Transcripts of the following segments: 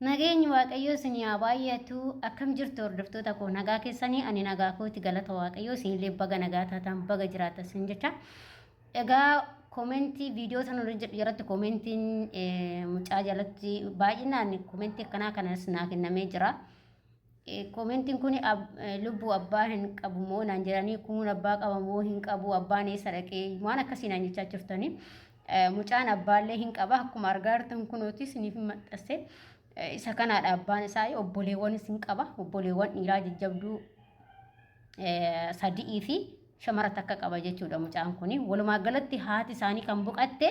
Nageenyi waaqayyoo isinii haa baay'atu akkam jirtu hordoftoota koo nagaa keessanii ani nagaa kooti galata waaqayyoo isinillee baga nagaa taataan baga jiraata isin jecha egaa koomentii viidiyoo sana irra jedhu jalatti koomentiin mucaa jalatti baay'inaan koomentii akkanaa kanas naa kennamee jira. Koomentiin kun lubbuu abbaa hin qabu moo naan jedhanii kuun abbaa qaba moo hin qabu abbaan eessa dhaqee waan akkasii naan jechaa jirtanii mucaan abbaallee hin qaba akkuma argaa jirtan kunuuti siniif hin maxxasse isa kanaadha abbaan isaa obboleewwanis hin qaba obboleewwan dhiiraa jajjabduu sadi'ii fi shamara takka qaba jechuudha mucaan kun. Walumaa galatti haati isaanii kan boqatte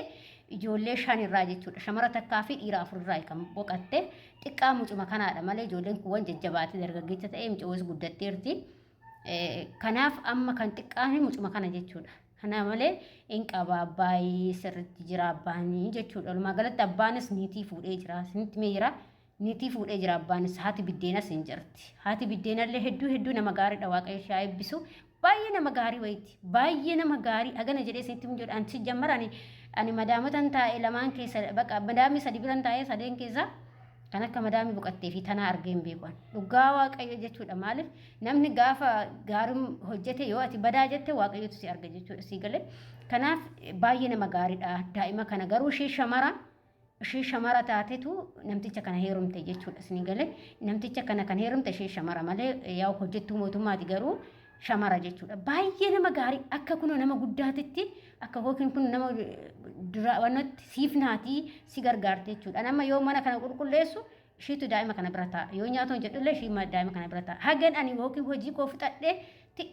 ijoollee shan irraa jechuudha. Shamara takkaa fi dhiira afur irraa kan boqatte xiqqaa mucuma kanaadha malee ijoolleen kuuwwan jajjabaatee dargaggeessa ta'ee mucawwas guddatteerti. Kanaaf amma kan xiqqaan mucuma kana jechuudha. Kana malee hin qaba abbaayi sirriitti jira abbaanii jechuudha. Walumaa galatti abbaanis niitii fuudhee jira. Isinitti mee jira. Nitii fuudhee jira abbaanis haati biddeenas hin jirti. Haati biddeenallee hedduu hedduu nama gaariidha waaqayyo ishee haa eebbisu. Baay'ee nama gaarii wayiiti. Baay'ee nama gaarii agana jedhee isinitti hin jedhu. Ani sijjammara ani ani madaamotan taa'e lamaan keessa baqa madaamii sadi biran taa'ee sadeen keessa kan akka madaamii boqattee fi tanaa argee hin beeku. Dhugaa waaqayyo jechuudha maaliif namni gaafa gaarii hojjete yoo ati badaa jette waaqayyotu si arga jechuudha sii galee. Kanaaf baay'ee nama gaariidha daa'ima kana garuu ishee shamaraa ishee shamara taatetu namticha kana heerumte jechuudha isin gale namticha kana kan heerumte ishee shamara malee yaa hojjettuu mootummaati garuu shamara jechuudha baay'ee nama gaarii akka kunoo nama guddaatitti akka yookiin kun nama duraawwanatti siif naatii si gargaarte jechuudha nama yoo mana kana qulqulleessu ishiitu daa'ima kana bira ta'a yoo nyaatoon jedhullee ishii daa'ima kana bira ta'a hagan ani yookiin hojii koo fixadhee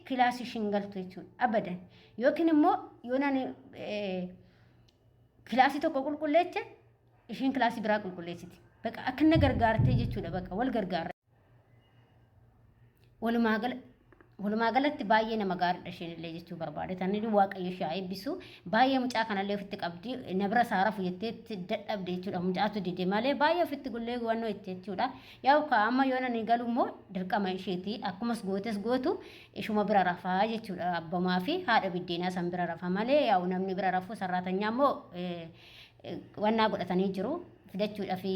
kilaasii ishiin galtu jechuudha abadan yookiin immoo yoo nani Kilaasii tokko qulqulleecha ishiin kilaasii biraa qulqulleessiti. Baqa akka na gargaartee jechuudha baqa wal gargaarra. Walumaa galatti baay'ee nama gaariidha isheen illee jechuu barbaade. Tanni waaqayyo ishee haa eebbisu. Baay'ee mucaa kanallee ofitti qabdi. Na bira saara fuyyattee dadhabde jechuudha. Mucaatu dide malee baay'ee ofitti gullee wannoo itti jechuudha. Yaa amma yoo nani galu immoo dirqama isheeti. Akkumas gootes gootu ishuma bira rafa jechuudha abbamaa fi haadha biddeenaa san bira rafa malee yaa'u namni bira rafuu sarraatanyaa immoo wannaa godhatanii jiru fidachuudha fi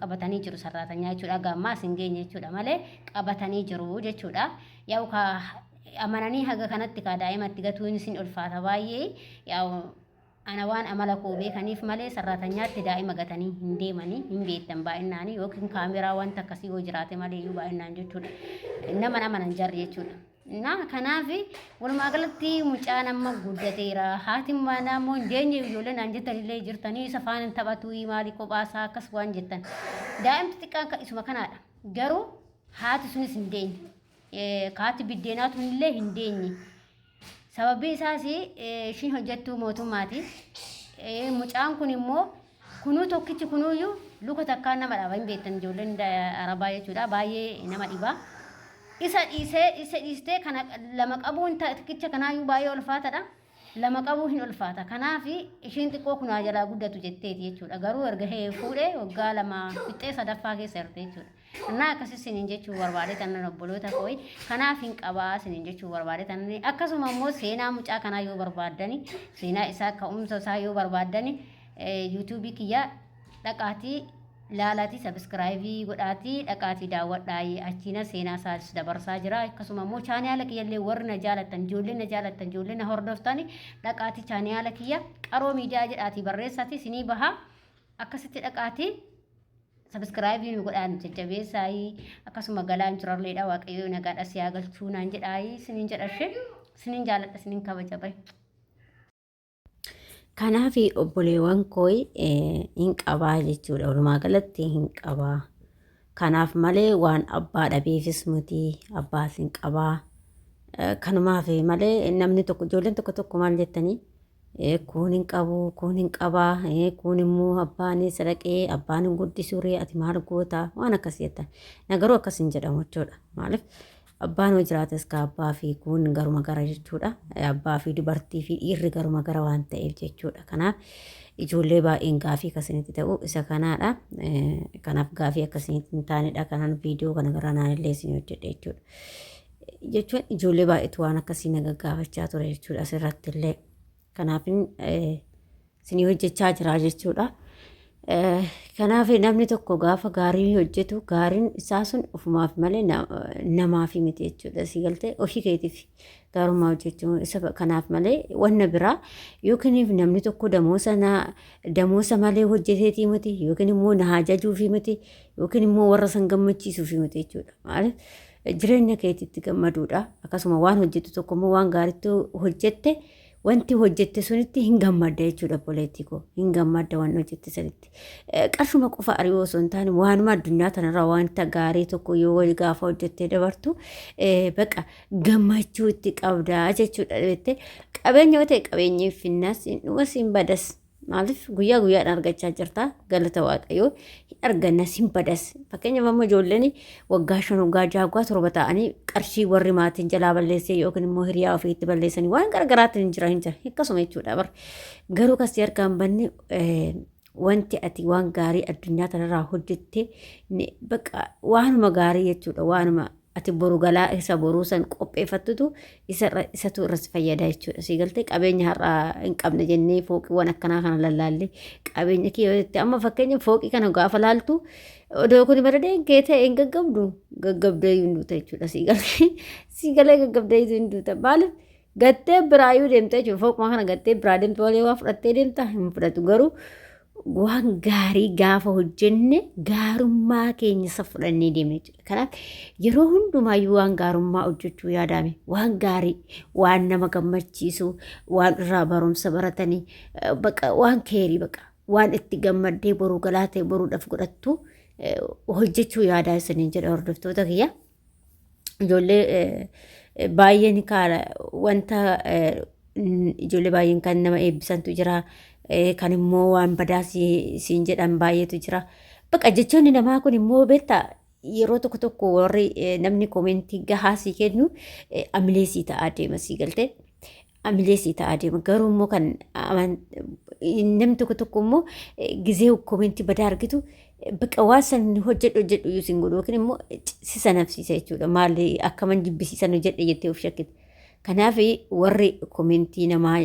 qabatanii jiru sarraatanyaa jechuudha gammaa sin geenye jechuudha malee qabatanii jiru jechuudha yaa'u ka amananii haga kanatti ka daa'imatti gatuun sin ulfaata baay'ee yaa'u Ana waan amala koo beekaniif malee sarraatanyaatti daa'ima gatanii hin deemanii hin beektan baay'innaanii yookiin kaameraa wanta akkasii yoo jiraate malee iyyuu baay'innaan jechuudha. Nama nama nan jarri jechuudha. Na kanaaf walumaa galatti mucaan amma guddateera. Haati manaa immoo hin deenye ijoollee naan jettan illee jirtanii isa faana hin taphatu maali kophaasaa akkas waan jettan. Daa'imti xiqqaan kan isuma kanaadha. Garuu haati sunis hin deenye. Haati biddeenaa tunillee hin deenye. Sababbii isaas ishiin hojjettuu mootummaati. Mucaan kun immoo kunuu tokkichi kunuuyyuu luka takkaan nama dhaba hin beektan ijoolleen arabaa jechuudha baay'ee nama dhiba. Isa dhiisee isa dhiistee kana lama qabuun tokkicha kanaayyuu baay'ee ulfaatadha. Lama qabuu hin ulfaata. Kanaaf ishiin xiqqoo kunaa jalaa guddatu jetteeti jechuudha. Garuu erga fuudhee waggaa lama fixxee sadaffaa keessa jirti jechuudha. Annaa akkasii isiniin jechuu barbaade tannan obboloota kooyi kanaaf hin qabaa isiniin jechuu barbaade tannan akkasuma immoo seenaa mucaa kanaa yoo barbaaddani seenaa isaa ka'umsa isaa yoo barbaaddani yuutuubii kiyya dhaqaatii laalaatii sabiskiraayibii godhaatii dhaqaatii daawwadhaayi achiina seenaa isaas dabarsaa jira akkasuma immoo chaaniyaala kiyya illee warri na jaalattan ijoollee na jaalattan ijoollee na hordoftani dhaqaatii chaaniyaala kiyya qaroo miidiyaa jedhaatii barreessaatii isinii bahaa akkasitti dhaqaatii Sabiskiraayibii nu godhaa nu jajjabeessaayii akkasuma galaan jirarleedha waaqayyoo nagaadha si haa galchuu naan jedhaayii sinin jedha ishee sinin jaaladha sinin kabaja bahe. Kanaaf obboleewwan koo hin qabaa jechuudha. Walumaa galatti hin qabaa. Kanaaf malee waan abbaa dhabeefis miti abbaas hin qabaa. Kanumaaf malee namni tokko ijoolleen tokko tokko maal jettanii kuun hin qabu kuun hin qaba kuun immoo abbaan isa dhaqee abbaan hin guddisuuree ati maal goota waan akkas jettan na garuu akkas hin jedhamu jechuudha maaliif abbaan yoo jiraates ka abbaa fi kuun garuma gara jechuudha abbaa fi dubartii fi dhiirri garuma gara waan ta'eef jechuudha kanaaf ijoollee baay'een gaafii akkasinitti ta'u isa kanaadha kanaaf gaafii akkasinitti hin taanedha kanaan viidiyoo kana gara naan illee isin hojjedhe jechuudha. jechuun ijoollee baay'eetu waan akkasii na gaggaafachaa ture jechuudha asirratti illee. Kanaafin isinii hojjechaa jira jechuudha. Kanaaf namni tokko gaafa gaarii hojjetu gaariin isaa sun ofumaaf malee namaaf miti jechuudha. Si galtee ofii keetiif gaarummaa hojjechuu isa kanaaf malee wanna biraa yookiin namni tokko damoosa na damoosa malee hojjeteetii miti yookiin immoo na hajajuufii miti yookiin immoo warra san gammachiisuufii miti jechuudha. Maaliif Jireenya keetitti gammaduudha. Akkasuma waan hojjettu tokko immoo waan gaariitti hojjette wanti hojjette sunitti hin gammadda jechuudha obboleettii koo. Hin gammadda waan hojjette sanitti. Eh, Qarshuma qofa ari'uu osoo hin taane waanuma addunyaa tanarraa wanta gaarii tokko yoo wal gaafa hojjettee dabartu eh, baqa gammachuu itti qabdaa jechuudha. Beettee qabeenya yoo ta'e qabeenyi finnaas hin dhumas hin badas. Maaliif guyyaa guyyaadhaan argachaa jirta galata waaqayyoo hin argannas hin badas. Fakkeenyaaf amma ijoolleen waggaa shan waggaa jaha waggaa torba ta'anii qarshii warri maatiin jalaa balleessee yookiin immoo hiriyaa ofii itti balleessanii waan gargaraatiin hin jira hin jira akkasuma jechuudha bar. Garuu kasi harkaa hin banne eh, wanti ati waan gaarii addunyaa kanarraa hojjette ni- baqa waanuma gaarii jechuudha waanuma ati boru galaa isa boruu san qopheeffattutu isa irra- isatu irra si fayyada jechuudha. Si galtee qabeenya har'a hin qabne jennee fooqiiwwan akkanaa kana lallaallee qabeenya kee yoo jette amma fakkeenya fooqii kana gaafa laaltu odoo kun bareedee hin kee ta'e hin gaggabdu gaggabdee hin duuta jechuudha. Si galee si galee gaggabdee hin duuta maaliif Gattee biraayyuu deemtee jechuudha. Foquma kana gattee biraa deemtu malee waa fudhattee deemta hin fudhatu. Garuu waan gaarii gaafa hojjenne gaarummaa keenya isa fudhannee deemna jechuudha. Kanaaf yeroo hundumaayyuu waan gaarummaa hojjechuu yaadaame waan gaarii waan nama gammachiisu waan irraa barumsa baratanii eh, baqa waan keerii baqa waan itti gammaddee boruu galaa ta'e boruudhaaf godhattu eh, hojjechuu yaadaa isiniin jedha hordoftoota kiyya. ijoollee baay'een kaara wanta ijoollee baay'een kan nama eebbisantu jira kan immoo waan badaa siin jedhan baay'eetu jira. Baqa jechoonni namaa kun immoo beektaa yeroo tokko tokko warri namni koomentii gahaa sii kennu amilee sii ta'aa deema sii galtee. amilee sii ta'aa deema. Garuu immoo kan namni tokko tokko immoo gizee koomentii badaa argitu baqa waan san hojjedhu hojjedhu iyyuu sin godhu yookiin immoo si sanafsiisa jechuudha. Maal akkaman jibbisiisan hojjedhe jettee of shakkite. Kanaaf warri koomentii namaa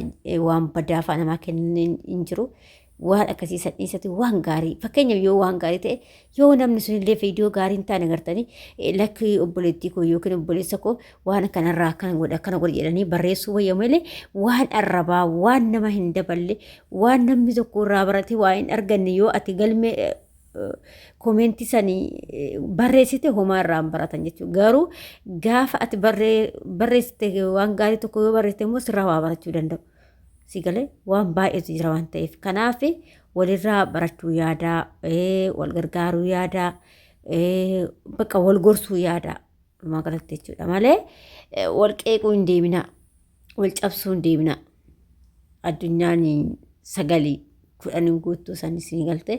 waan badaa fa'aa namaa kennan hin jiru. waan akkasii san dhiisatu waan gaarii fakkeenyaaf yoo waan gaarii ta'e yoo namni sun illee viidiyoo gaarii hin taane agartanii eh, lakkii obboleettii koo yookiin obboleessa koo waan kanarraa akkana godha akkana godha jedhanii barreessuu wayya malee waan arrabaa waan nama hin daballe waan namni tokko irraa barate waa hin arganne yoo ati galmee eh, eh, koomeentii sanii eh, barreessite homaa irraa hin baratan jechuudha garuu gaafa ati barree- barreessite waan gaarii tokko yoo barreessite immoo sirraa waa barachuu danda'u. si galee waan baay'eetu jira waan ta'eef kanaaf walirraa barachuu yaadaa ee, wal gargaaruu yaadaa ee, bakka wal gorsuu yaadaa dhumaa galatti jechuudha malee ee, wal qeequu hin deeminaa wal cabsuu hin deeminaa addunyaan sagalii kudhan hin guuttuu san isin galte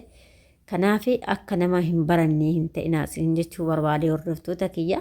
kanaaf akka nama hin barannee hin ta'inaa isin jechuu barbaade hordoftoota kiyya